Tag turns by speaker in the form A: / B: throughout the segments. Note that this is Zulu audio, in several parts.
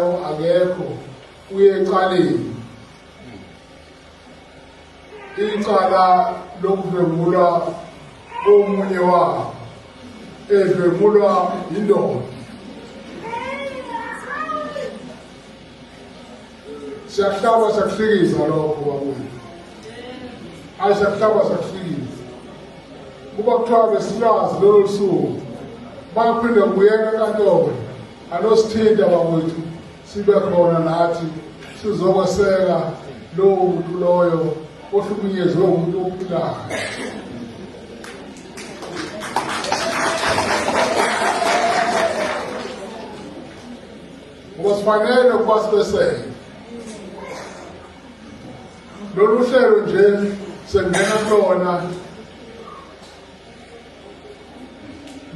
A: akekho uyecaleni icala lokudlwengulwa komunye wabo edlwengulwa yindoda siyahlaba siyakuhlikiza lokho bakuyo ayi siyakuhlaba siyakuhlikiza kuba kuthiwa besilwazi lolo lusuku baphinde kubuyela enkantolo Anosithinta bakwethu sibe khona nathi sizokweseka lowo muntu loyo ohlukunyezwe umuntu ophilayo. Ngoba sifanele ukuba sibeseke. Lolu hlelo nje sengena kulona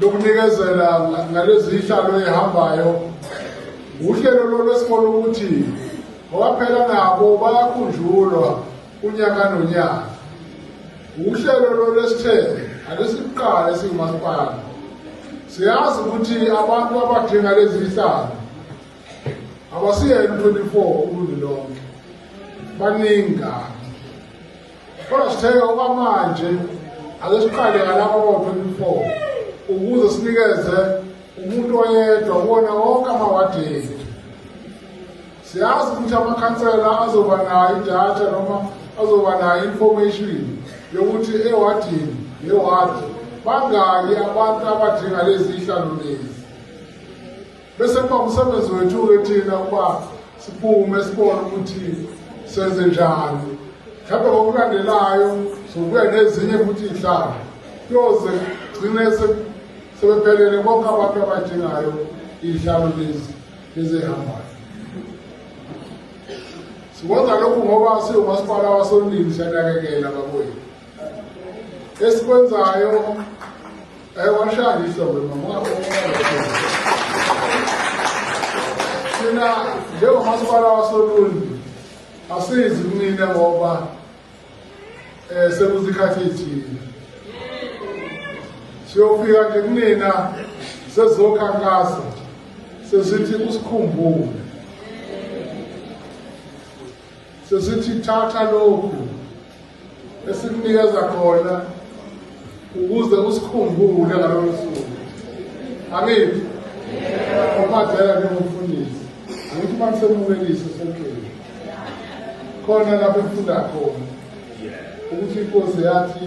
A: lokunikezela ngalezi ihlalo ehambayo uhlelo lolwesikole ukuthi ngobaphela nabo bayakhunjulwa unyaka nonyaka uhlelo lolwesithe alesiqala esingumasipala siyazi ukuthi abantu abadinga lezi ihlalo abasiyena 24 uluntu lonke baningi kabi Kodwa sithe okwamanje ake siqale ngalapho kwa-24 ukuze sinikeze umuntu oyedwa kuwona wonke amawadi ethu siyazi ukuthi amakhansela azoba nayo idatha noma azoba nayo information yokuthi ewadini newadi bangaki abantu abadinga lezi hlalo lezi Bese kuba umsebenzi wethu-ke thina ukuba siphume sibone ukuthi senze njani mhlawumbe ngokulandelayo sokubuya nezinye futhi iy'hlanga kuyoze gcine sebephelele bonke abantu abadingayo iy'hlalo lezi ezihambayo sikwenza lokhu ngoba siwumasipala wasondini siyanakekela bakwethu esikwenzayo ewashayisa wena thina njengomasipala wasoluni asizi kunine ngoba um sekuzikhathi ithile siyofika nje kunina sezokhankasa sesithi usikhumbule sesithi thatha lokhu esimnikeza khona ukuze usikhumbule ngalolo suku angithi omadlela njengomfundisi angithi uma nisemukelise senkeni khona lapho efunda khona ukuthi inkosi yathi